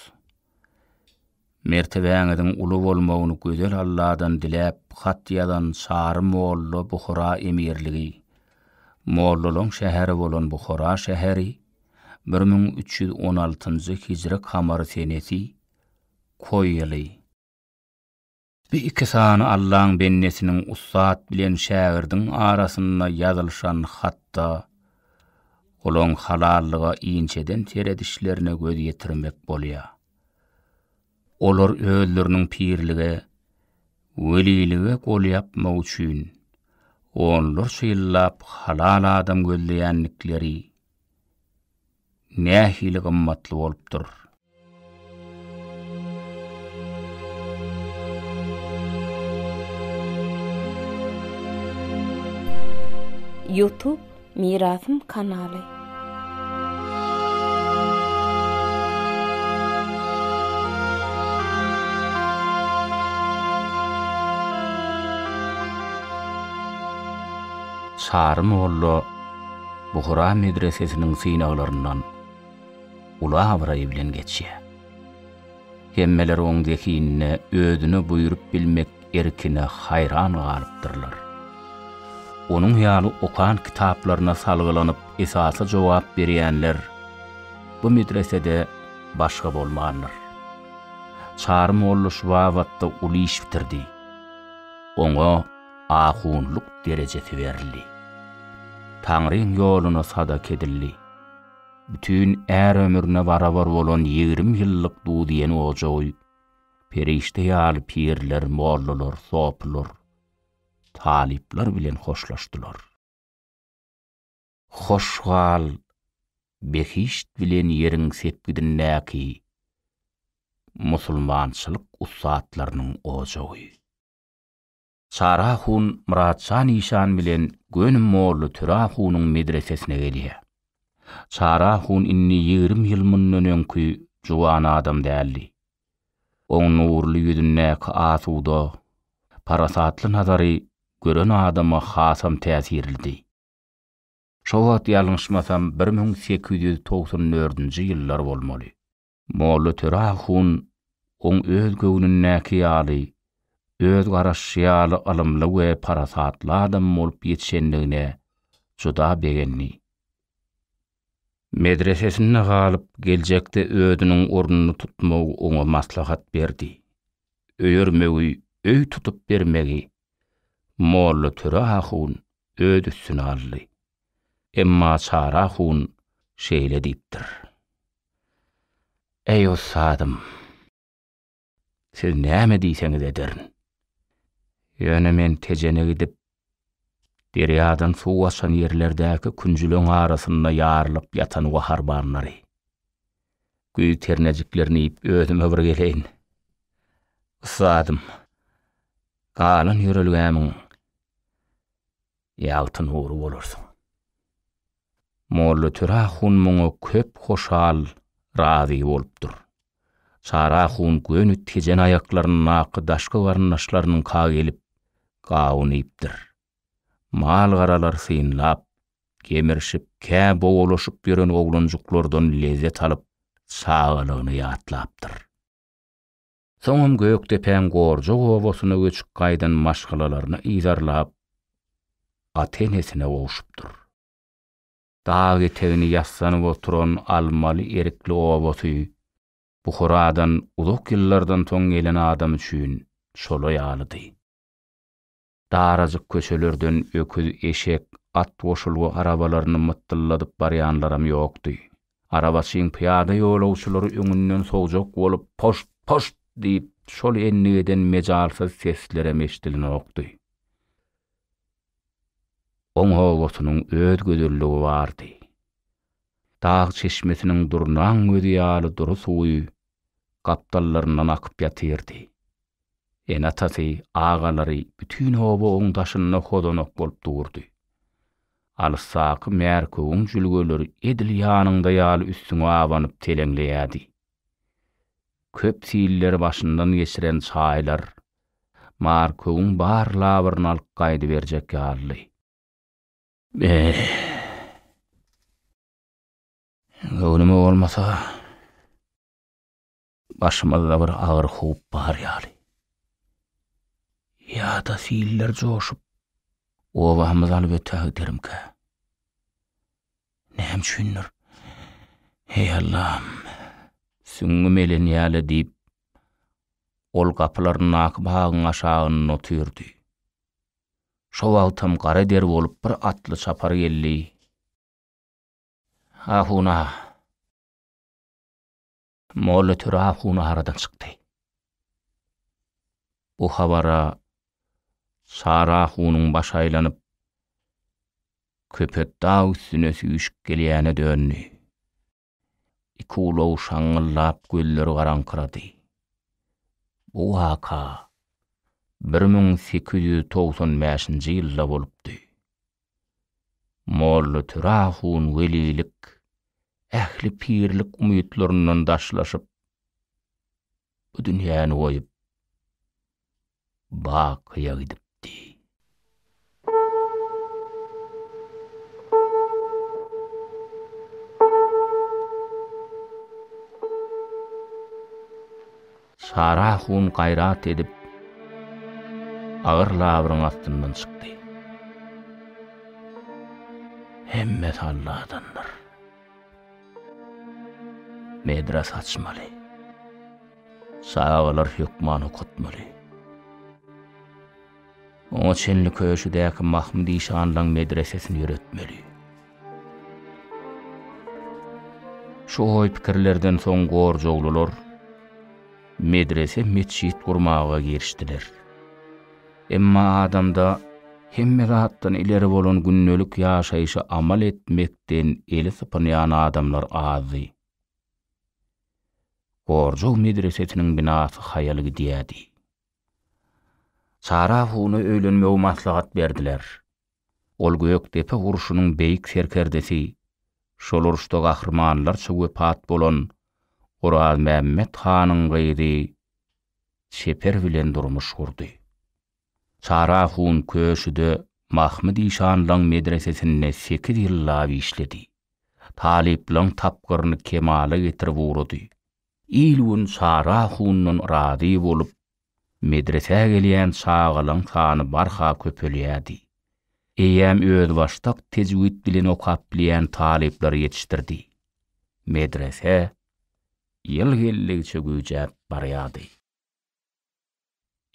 Speaker 1: Mertebäňiziň uly bolmagyny gözel Alladan diläp hat ýazan Çary molla Buhara emirligi, mollalaň şäheri bolan Buhara şäheri, bir müň üç ýüz on altynjy hijri kamary senesi, Koý ýyly. Bu iki sany Allaň bendesiniň ussat bilen şägirdiň arasynda ýazylyşan hatda olaň halallyga inçeden seredişlerine göz ýetirmek bolýar. Olar özleriniň pirlige, welilige gol ýapmak üçin onlarça ýyllap halal adam gözleýändikleri nähili gymmatly bolupdyr. Youtube Mirasym kanaly. Çary molla. Buhara medresesiniň synaglaryndan uly abraý bilen geçýär. Hemmeler oň zehinine özüne buýrup bilmek erkine haýran galypdyrlar. Onuň ýaly okan kitaplaryna salgylanyp esasy jogap berýänler bu medresede başga bolmandyr. Çary molla şu babatda uly iş bitirdi. Oňa. ahunlyk derejesi berildi. Taňryň ýoluna sadaka edildi. Bütin är ömrüne barabar bolan ýigrimi ýyllyk dudiýen ojagy perişde ýaly pirler, mollalar, sopylar, talyplar bilen hoşlaşdylar. Hoş gal, behişt bilen ýeriň sepgidindäki musulmançylyk ussatlarynyň ojagy! Çara hun Myrat şa nyşan bilen göni Molla Türa hunuň medresesine gelýär. Çara hun indi ýigrimi ýyl mundan öňki juwan adam däldi. Oň nurly ýüzündäki asuda, parasatly nazary gören adama hasam täsirlidi. Şo wagt ýalňyşmasam bir müň sekiz ýüz togsan dördünji ýyllar bolmaly. Molla Töre ahun oň öz göwnündäki ýaly, öz garaşy ýaly ylymly we parasatly adam bolup ýetişendigine juda begendi. Medresesinde galyp, geljekde özüniň ornuny tutmagy oňa maslahat berdi. Öýermegi, öý tutup bermegi Molla Töre ahun öz üstüne aldy. Emma Çara hun şeýle diýipdir. Eý ussadym! Siz näme diýseňiz ederin. Ýöne men Tejene gidip, derýadan suw aşan ýerlerdäki künjüleň arasynda ýarylyp ýatan gaharbanlary, güýz ternejiklerini iýip özüme bir geleýin. Ussadym, galan ýörelgämiň Ýagty nury bolarsyň. Molla Töre ahun muňa köp hoşal, razy bolupdyr. Çary ahun göni tejen aýaklaryndaky daşky garyndaşlarynyňka gelip, gawun iýipdir. Mal-garalar synlap, gemirişip, kä bowalaşyp ýören oglanjyklardan lezzet alyp, çagalygyny ýatlapdyr. Soňam Gökdepäň Gorja obasyna göçüp gaýdan maşgalalaryny yzarlap, ata-enesine gowşupdyr. Dag etegini ýassanyp oturan Almaly-Erikli obasy Buharadan uzak ýyllardan soň gelen adam üçin şolaý ýalydy. Darajyk köçelerden öküz, eşek, at goşulgy arabalaryny mytdylladyp barýanlaram ýokdy. Arabaçyň pyýada ýolagçylary öňünden sowjak bolup, poşt, poşt! diýip, şol endigeden mejalsyz seslerem eşidilenokdy. Oň obasynyň öz gözelligi bardy. Dag çeşmesiniň durnaň gözi ýaly dury suwy gapdallaryndan akyp ýatyrdy. Ene-atasy, agalary, bütin oba oň daşynda hozanak bolup durdy. Alysdaky märkewiň jülgeleri edil ýanyňda ýaly üstüňe abanyp teleňleýärdi. Köp silleri başyndan geçiren çaýlar märkewiň bar labyryny alyp gaýdyberjek ýalydy. Be-e! Göwnüme bolmasa, başymyzda bir agyr howp bar ýaly. Ýa-da siller joşup, obamyzy alyp ötä giderimkä? Näme üçindir, Heý Allam, süňňüm elenýä-le diýip, ol gapylaryndaky bagyň aşagynda otyrdy. Şo wagtam gara der bolup bir atly çapar geldi. Ahuna. Molla Töre ahuna aradan çykdy. Bu habara Sara ahunyň baş aýlanyp, köpet dag üstüne süýşüp gelýäne döndi. Iki ulag şaňňyldap, gözleri garaňkyrady. Bu waka bir müň sekiz ýüz togsan bäşinji ýylda bolupdy. Molla Türä hun welilik, ähli pirlik umytlaryndan daşlaşyp, bu dünýäni goýup, Bakyýa gidipdi. Sara hun gaýrat edip, agyr labyryň astyndan çykdy. Hemmesi Alladandyr. Medres açmaly. Çagalar hökman okatmaly. Oňa çenli köşüdäki Mahmyt işanlaň medresesini ýöretmeli. Şu oý-pikirlerden soň gorjaglylar medrese-metjit gurmaga girişdiler. Emma adamda hemme zatdan ileri bolan gündelik ýaşaýşa amal etmekden eli sypynýan adamlar azdy. Gorjag medresesiniň binasy haýal gidýärdi. Sara huna öýlenmegi maslahat berdiler. Ol Gökdepe urşunyň beýik serkerdesi, şol urşda gahrymanlarça wepat bolan Orazmämmet hanyň gyzy Çeper bilen durmuş gurdy. Sara hun Köşüde Mahmyt işanlaň medresesinde sekiz ýyllap işledi. Talyplaň tapgyryny kemala getirip ugrady. Il-gün Sara hundan razy bolup, medresä gelýän çagalaň sany barha köpelýärdi. Eýýäm özbaşdak tejwid bilen okap bilýän talyplar ýetişdirdi. Medrese ýyl geldigiçe güýjäp barýardy.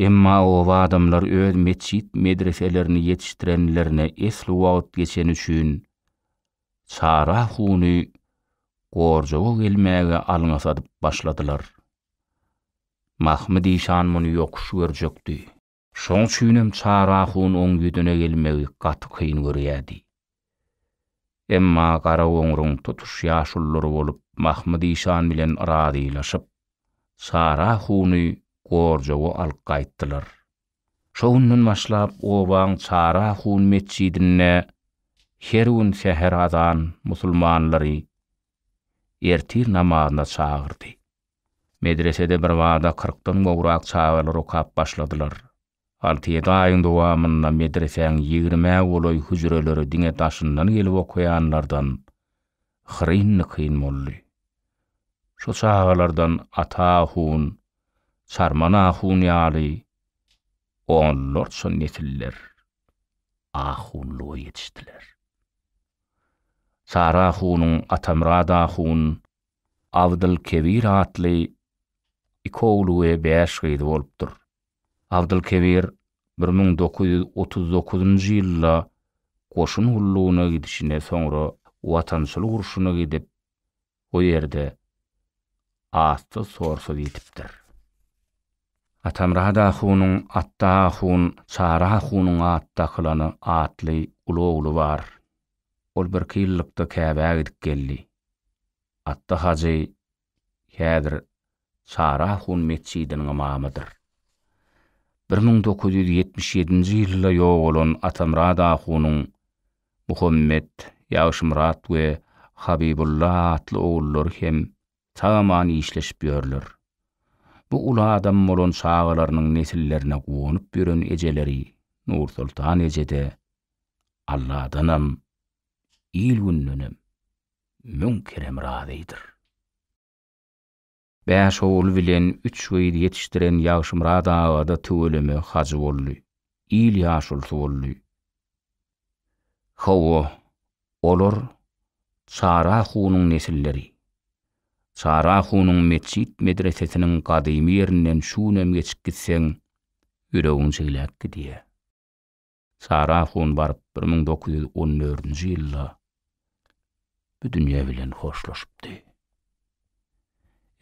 Speaker 1: Emma oba adamlar öz metjit medreselerini ýetişdirenlerine esli wagt geçeni üçin Çara huny Gorjowa gelmäge alňa sadyp başladylar. Mahmyt işan muny ýokuş görjekdi. Şoň üçinem Çara hun oň ýüzüne gelmegi gaty kyn görýärdi. Emma Garagoňruň tutuş ýaşululary bolup Mahmyt işan bilen razylaşyp, Çara huny gorjagy alyp gaýtdylar. Şo günden başlap obaň Çara hun metjidinde her gün säher azan musulmanlary ertir namazyna çagyrdy. Medresede birbada kyrkdan gowrak çagalar okap başladylar. Alty-ýedi aýyň dowamynda medresäň ýigrimä golaý hüjreleri diňe daşyndan gelip okaýanlardan hyryn-nykyn boldy. Şu çagalardan Ata ahun, Çarman ahun ýaly onlarça nesiller ahunlyga ýetişdiler. Sary ahunyň Atamyrat ahun, Abdylkebir atly iki ogly we bäş gyzy bolupdyr. Abdylkebir bir müň dokuz ýüz otuz dokuzynjy ýylda goşun gullugyna gidişine soňra Watançylyk urşuna gidip, o ýerde assyz-sorsuz ýitipdir. Atamyrat ahunyň Atda ahun, Çary ahunyň Atdakylany atly uly ogly bar. Ol birki ýyllykda Käbä gidip geldi. Atda hajy häzir Çarahun metjidiniň ymamydyr. Bir müň dokuz ýüz ýetmiş ýedinji ýylda ýogalan Atamyrat ahunyň Muhammet, Ýagşymyrat we Habibulla atly ogullary hem sag-aman işleşip ýörler. Bu uly adam bolan çagalarynyň nesillerine guwanyp ýören ejeleri Nursoltan eje-de Alladanam, il-gündenem. müň kerem razydyr. Bäş ogul bilen üç gyz ýetişdiren Ýagşymyrat aga-da tüweleme hajy boldy, il ýaşulusy boldy. Hawa, olar Çara hunyň nesilleri. Çara hunyň metjit-medresesiniň gadymy ýerinden şu günem geçip gitseň, ýüregiň jigläp gidýär. Sara hun baryp bir müň dokuz ýüz on dördünji ýylda bu dünýe bilen hoşlaşypdy.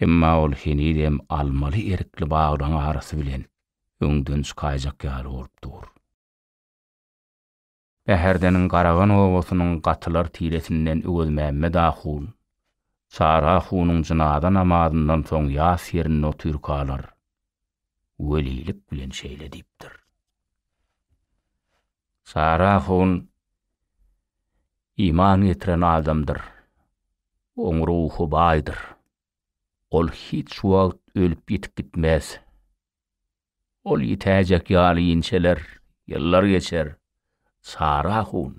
Speaker 1: Emma ol henizem almaly erikli baglaryň arasy bilen öňden çykaýjak ýaly bolup dur. Bäherdeniň Garagan obasynyň gatylar tiresinden Öwezmämmet ahun, Sara hunuň jynaza namazyndan soň ýas ýerinde otyrkalar, welilik bilen şeýle diýipdir. Sara hun iman getiren adamdyr, oň ruhy baýdyr. Ol hiç wagt ölüp-ýitip gitmez. Ol ýitäýjek ýaly inçeler, ýyllar geçer. Sara hun